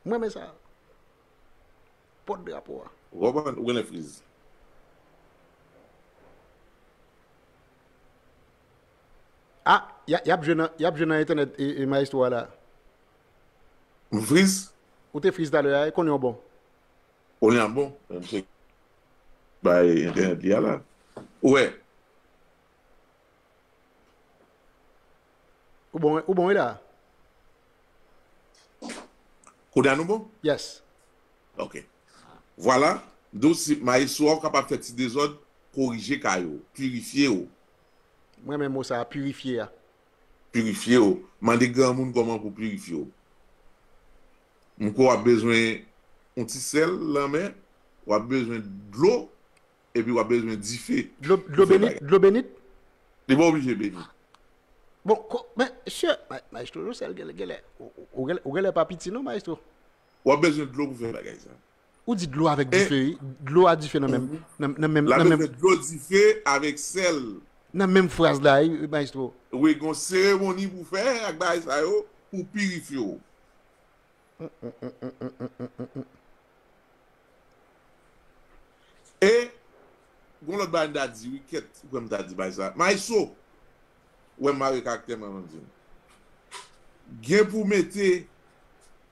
M renmen sa. Pot drapo a. Ou konprann ou genlè friz. Ah yap jwe nan yap jwe nan entènèt maestro a la. M friz? Ou te friz talè a e kounye w bon? Kounye a m bon men misye Bay internet li a la. Ou wè. Ou bon ou bon wi la. Konya nou bon? Yes. Ok. Vwala. Dous si maestro a ou kapab fè ti dezòd, korije kay ou. Pirifye ou. M renmen mo sa a, pirifye a. Pirifye ou. Mande granmoun kòman pou pirifye ou. M kwè w ap bezwen yon ti sèl lanmè, w ap bezwen dlo epi w ap bezwen dife pou fè bagay. Dlo benit? Li pa oblije benit. Bon, men, sè, maestro Josèl, genlè, ou genlè pa piti non, maestro. W ap bezwen dlo pou fè bagay sa yo. Ou di dlo avèk dife wi. Dlo a dife nan menm. La nou fè dlo dife avèk sèl. Nan menm fraz la wi maestro. Wi gon seremoni pou fè ak bagay sa yo pou pirifye w. E gon lòt bagay m ta di wi kèt ou kwè m ta di bagay sa. Maestro wè m mare karaktè m avan m di l. Gen pou mete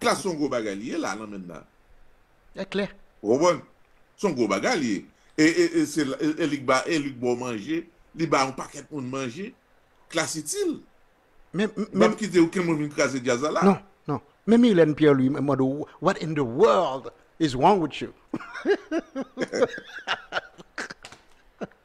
Klass son gwo bagay li ye la nan menn nan. Nèg klè. Ou konprann? Son gwo bagay li ye. E li k ba e li k ba w manje, li ba yon pakèt moun manje. Klass itil. Men, men. Li pap kite okenn moun vin kraze djaz la la. Non, non. Men Mylène Pierre Louis mwen mande w what in the world is wrong with you?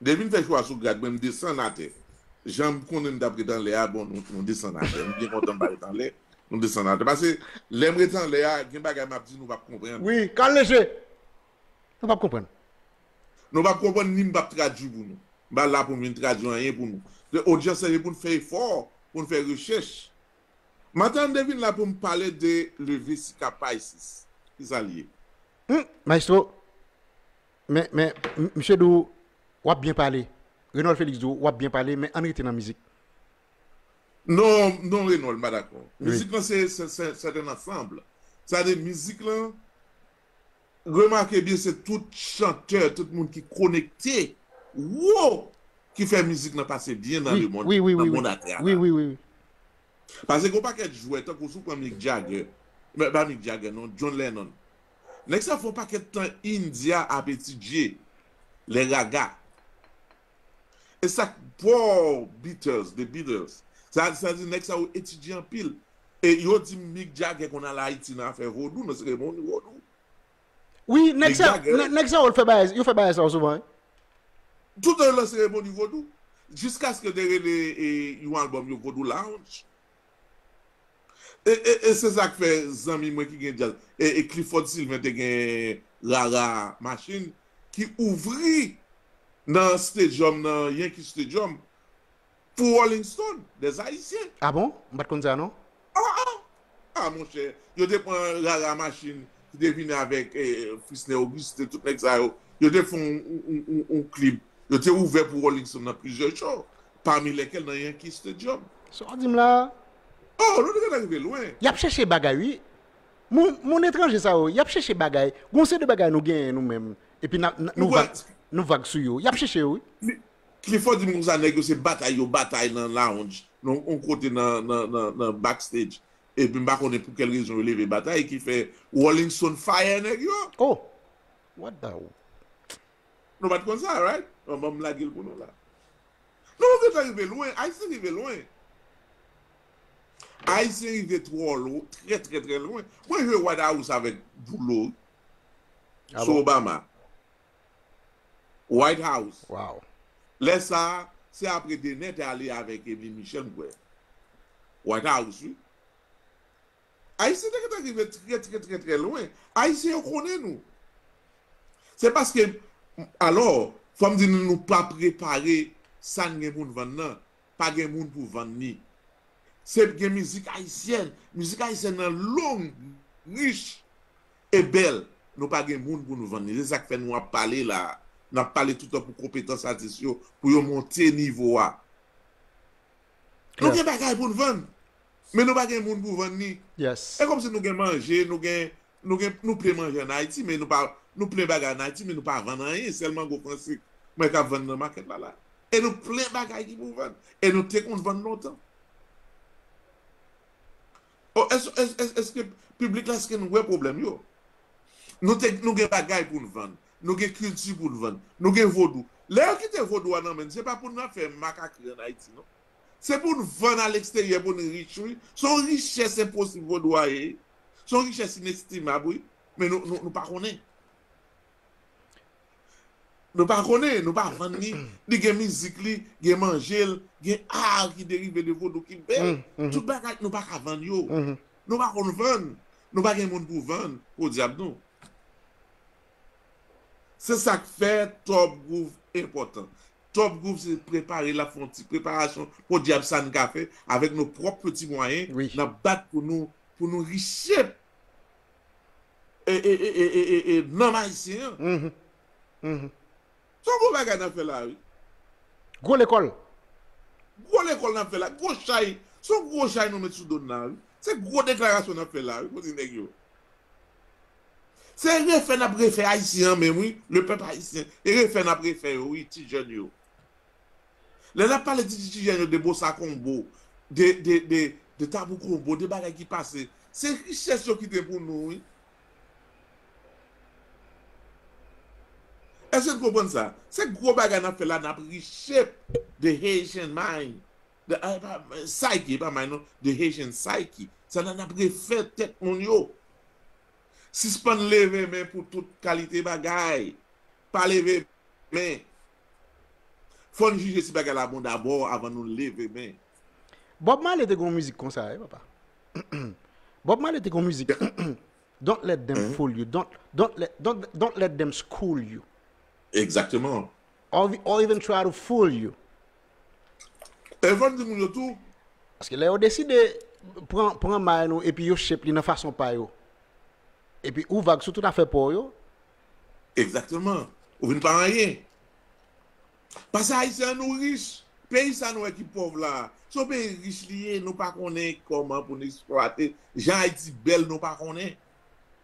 Depi n fè chwa sou grad mwen m desann atè. Jan m konnen m t ap ret anlè a bon nou desann atè. M byen kontan m pa ret anlè, nou desann atè. Pase lè m ret anlè a gen bagay m ap di nou pap konprann. Wi, kal leje! Nou pap konprann. Nou pap konprann ni m pap tradui pou nou. M pa la pou m vin tradui anyen pou nou. Se odyans la se pou n fè efò, pou n fè rechèch. Matan m te vin la pou m pale de leve sika Pisces. Ki sa l ye? Hum! Maestro! Men men misye di w wap byen pale Renold Felix di w wap byen pale men ann rete nan mizik. Non non Renold m pa dakò. Mizik lan se c'est un ensemble. Sa vle di mizik lan remake byen se tout chantè tout moun ki konekte woo ki fè mizik lan pase byen nan le mond nan mond a travè. Wi wi wi wi. Pase gen yon pakèt jwè tankou si w pran Mick Jagger, pa Mick Jagger non John Lennon Nèg sa fè yon pakèt tan India ap etidye les raga. E sak paw Beatles, the Beatles. Sa sa di nèg sa yo etidye anpil. E yo di Mick Jagger konn al Ayiti nan afè vodou, nan seremoni vodou. Wi, nèg sa nèg sa yo l fè bagay yo fè bagay sa yo souvan wi. Toutan yo nan seremoni vodou. Jiskaske te rele yon album yo Vodou Lounge. E e e se sak fè zanmi mwen ki gen djaz e e Clifford Sylvain te gen rara machine ki ouvri nan stadium nan Yankee Stadium pou Rolling Stone des Haïtiens. Ah bon? M pat konn sa non. Ah ah! Ah monchè, yo te pran rara machine ki te vini avèk Frisney Auguste tout nèg sa yo, yo te fon yon yon yon klib, yo te ouvè pou Rolling Stone nan plizyè show pami lèkèl nan Yankee Stadium. Sa w ap di m la a? Oh, nou te gentan rive lwen. Y ap chèche bagay wi. Moun, moun etranje sa yo, y ap chèche bagay. Gen yon seri de bagay nou genyen nou menm, epi n ap, nou vag, nou vag sou yo. Y ap chèche yo wi. Clifford di m konsa nèg yo se batay yo batay nan lounge, nan yon kote nan, nan, nan, nan backstage. Epi m pa konnen pou kèl rezon yo leve batay ki fè Rolling Stone fire nèg yo. Oh! What the, Nou pat konn sa right bon banm lagel pou nou la Nou gentan rive lwen ayisyen rive lwen ayisyen rive trò lwen trè trè trè lwen mwen jwe white house avèk boulo wi sou Obama white house lè sa se apre Dener te ale avèk Emeline Michel m kwè white house wi. Ayisyen te gentan rive trè trè trè trè lwen. Ayisyen yo konnen nou. Se paske, alò, fò m di nou nou pa prepare sa n gen pou n vann nan. Pa gen moun pou vann ni. Se gen mizik ayisyèn. Mizik ayisyèn nan long, rich e bèl. Nou pa gen moun pou nou vann ni. Se sa k fè nou ap pale la a. N ap pale toutan pou konpetans atis yo, pou yo monte nivo a. Nou gen bagay pou n vann, men nou pa gen moun pou vann ni. Se kòm si nou gen manje, nou gen, nou gen, nou plen manje an Ayiti, men nou pa, nou plen bagay an Ayiti, men nou pa vann anyen, sèl mango fransik mwen ka vann nan makèt la la. E nou plen bagay ki pou vann. E nou te konn vann lontan. O, èske, èske, èske, èske piblik la, èske nou wè pwoblèm yo? Nou te, nou gen bagay pou n vann. Nou gen kilti pou n vann. Nou gen vodou. Lè yo kite vodou a nan men n, se pa pou n ap fè makakri an Ayiti non. Se pou n vann a leksteryè pou n rich wi. Se yon richès enposib vodou a ye. Se yon richès inestimab wi. Men nou pa konnen. Nou pa konnen. Nou pa vann li. Li gen mizik li, gen manje l, gen ar ki derive de vodou ki bèl. Tout bagay nou pa ka vann yo. Nou pa konn vann. Nou pa gen moun pou vann. Podyab nou. Se sa k fè Top Groove enpòtan. Top Groove se prepare l ap fè yon ti preparasyon podyab sa n ka fè avèk nou pwòp peti mwayen n ap bat pou nou pou nou richep e nanm ayisyen an. Se yon gwo bagay n ap fè la wi. Gwo lekòl. Gwo lekòl n ap fè la. Gwo chay. Se yon gwo chay nou met sou do n la wi. Se gwo deklarasyon n ap fè la wi pou di nèg yo. Se refè nap refè ayisyen an menm wi le pèp ayisyen e refè nap refè yo wi ti jèn yo lè nap pale di ti jèn yo de bossa combo de de de de tabou combo de bagay ki pase se richès yo kite pou nou wi eske n konprann sa se gro bagay nap fè la nap richep de haitian mind Psyche e pa may non, the Haitian psyche. Sa nan ap refè tèt moun yo. Sispann leve men pou tout kalite bagay. Pa leve men. Fò n jije si bagay la bon dabò avan nou leve men. Bob Marley te gen yon mizik konsa wi papa. Bob Marley te gen yon mizik Don't let them fool you, don't let them school you. Exactement. Or even try to fool you. Evan di moun yo tou. Paske lè yo deside pran pran may nou epi yo shape li nan fason pa yo. Epi ou vag sou tout afè pa w yo. Egzakteman. Ou vin pa anyen. Pase Ayisyen an nou rich. Peyi sa nou wè ki pòv la a, se yon peyi rich li ye, nou pa konnen kòman pou nou esplwate jan Ayiti bèl nou pa konnen.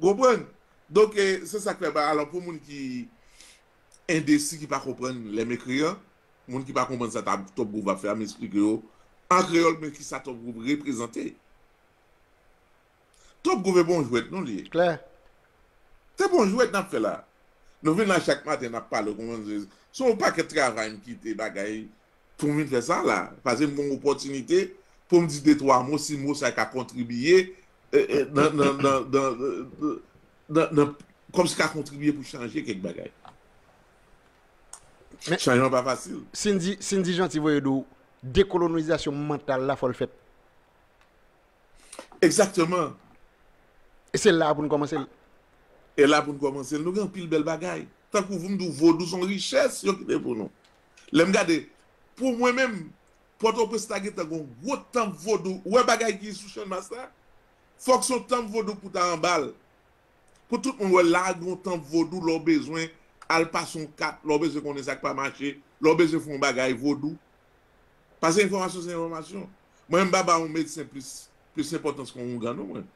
Ou konprann? Donk e se sa k fè ba alò pou moun ki endesi ki pa konprann lè m ekri an, moun ki pa konprann sa ta Top Group ap fè a m esplike yo an kreyòl men ki sa Top Group reprezante. Top Group e bon jwèt non li. Klè. Se bon jwèt n ap fè la. Nou vin la chak maten n ap pale ou konprann se yon pakèt travay m kite bagay. Pou m vin fè sa la, pase m gon opòtinite pou m di de twa mo si mo sa ka kontribiye nan nan kòm si ka kontribiye pou chanje kèk bagay. Chanjman pa fasil. Sindy Sindy Jeanty voye di w dekolonizasyon mantal la fò l fèt. Egzakteman. E se la a pou n kòmanse l. E la pou n kòmanse l. Nou gen anpil bèl bagay. Tankou pou m di w vodou s on richès yo kite pou nou. Lè m gade, pou mwen menm, Pòtoprens ta gentan gen yon gwo tanp vodou. Ou wè bagay ki sou Channmas la? Fòk se yon tanp vodou pou ta anba l. Pou tout moun wè la gen yon tanp vodou lè w bezwen al pase yon kat, lè w bezwen konnen sa k pa mache, lè w bezwen fè yon bagay vodou. Pase enfòmasyon se enfòmasyon. Mwen menm m pa ba yon medsen plis enpòtans ke yon houngan non mwen.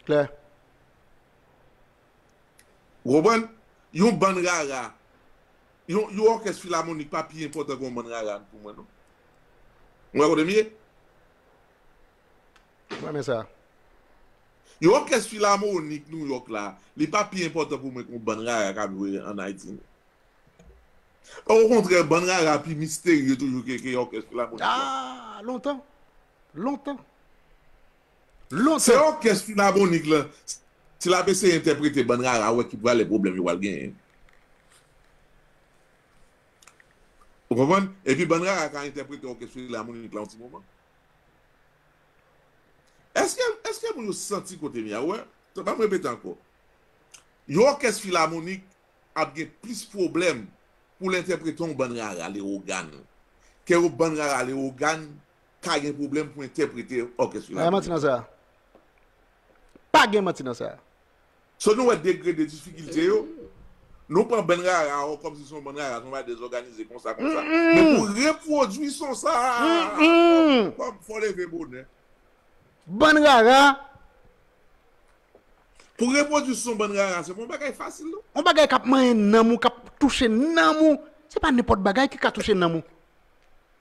Klè. Ou konprann? Yon bann rara, yon yon òkès filamonik pa pi enpòtan ke yon bann rara pou mwen non. Ou wè kote m ye? M renmen sa. Yon òkès filamonik New York la, li pa pi enpòtan pou mwen ke yon bann rara k ap jwe an Ayiti non. Okontrè, bann rara pi misterye toujou ke òkès filamonik la. Ah! Lontan! Lontan! Se òkès filamonik lan si lap eseye entèprete bann rara wè ki prale pwoblèm yo pral genyen. Ou konprann? Epi bann rara ka entèprete òkès filamonik la yon ti moman. Eske eske moun yo santi kotem ye a? Ou wè? Banm repete ankò. Yon òkès filamonik ap gen plis pwoblèm poul entèprete yon bann rara Lewogàn ke yon bann rara Lewogàn ka gen pwoblèm pou entèprete òkès yo ladan yo. Pa gen manti nan sa. So nou wè degre de difikilte yo, nou pran bann rara o kòm si se yon bann rara, se yon bagay dezòganize konsa konsa. Men pou repwodui son sa a, fò w leve bonè. Bann rara. Pou repwodui son bann rara, se pa yon bagay fasil non. Yon bagay k ap manyen nanm ou, k ap touche nanm ou. Se pa nenpòt bagay ki ka touche nanm ou.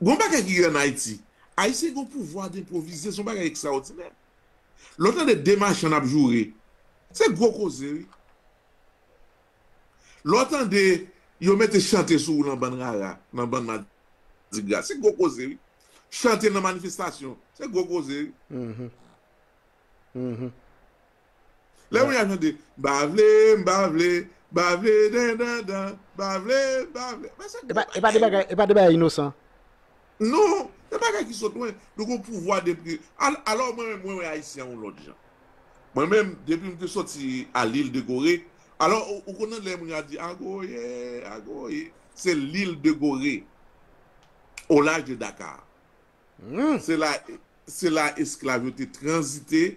Gon bagay ki gen an Ayiti, Ayisyen gen yon pouvwa denpwovize, se yon bagay ekstraòdinè. Lè w tande de machann ap joure, se gwo koze wi. Lè w tande yo mete chante sou ou nan bann rara, nan bann madigra, se gwo koze wi. Chante nan manifestasyon, se gwo koze wi. Lè moun ya chante, m pa vle, m pa vle, m pa vle dan dan dan, m pa vle, m pa vle. Men se gwo bagay wi. E pa de bagay inosan. Non, se bagay ki sot lwen. Nou gen yon pouvwa de pri. Alò mwen menm mwen wè Ayisyen yon lòt jan. Mwen menm depi m te soti a Lil de Gore, alò ou konn nan lè moun ya di Agoye, Agoye, se Lil de Gore, au large de Dakar. Se la esklav yo te tranzite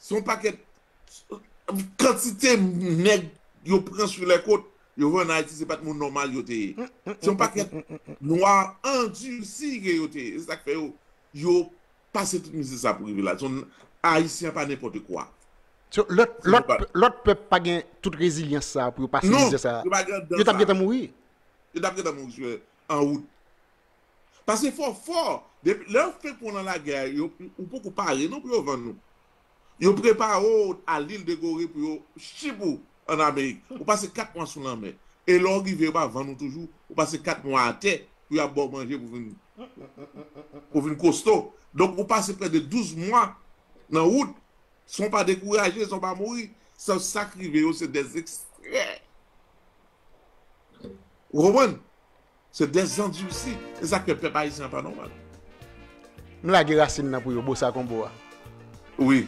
Son pakèt kantite nèg yo pran sou lè kot yo vè an Ayiti se pat moun nòmal yo te ye. Son pakèt nwa andursi ke yo te ye. Se sak fè yo yo pase tout mizè sa pou rive la. Son Ayisyen pa nenpòte kwa. So lòt pèp pa gen tout rezilyans sa pou yo pase mizè sa. Non, yo pa gen dan sa. Yo tap gentan mouri. Yo tap gentan mouri an wout. Pase fò fò, depi lè yo fenk pran w lan lagè a, yo, ou poko pare non pou yo vann ou. Yo prepare w al Lil de Gore pou yo chip ou an Amerik. Ou pase 4 mwa sou lanmè. E lè w rive yo pa vann ou toujou, ou pase 4 mwa atè pou y ap ba w manje pou vin, pou vin kosto. Donk ou pase prè de 12 mwa nan wout, san w pa dekouraje, san w pa mouri. Sa k rive yo se dè ekstrè. Ou konprann? Se des zandursi. Se sak fè pèp ayisyen an pa nòmal. M lage rasin nan pou yo bossa combo a. Wi.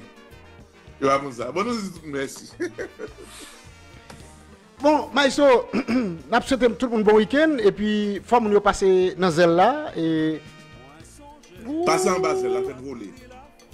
Yo pa konn sa. Bon nou di tout moun mèsi. Bon Maestro nap swete tout moun bon weekend epi fò moun yo pase nan zèl la e. Pase anba zèl la fèl vole.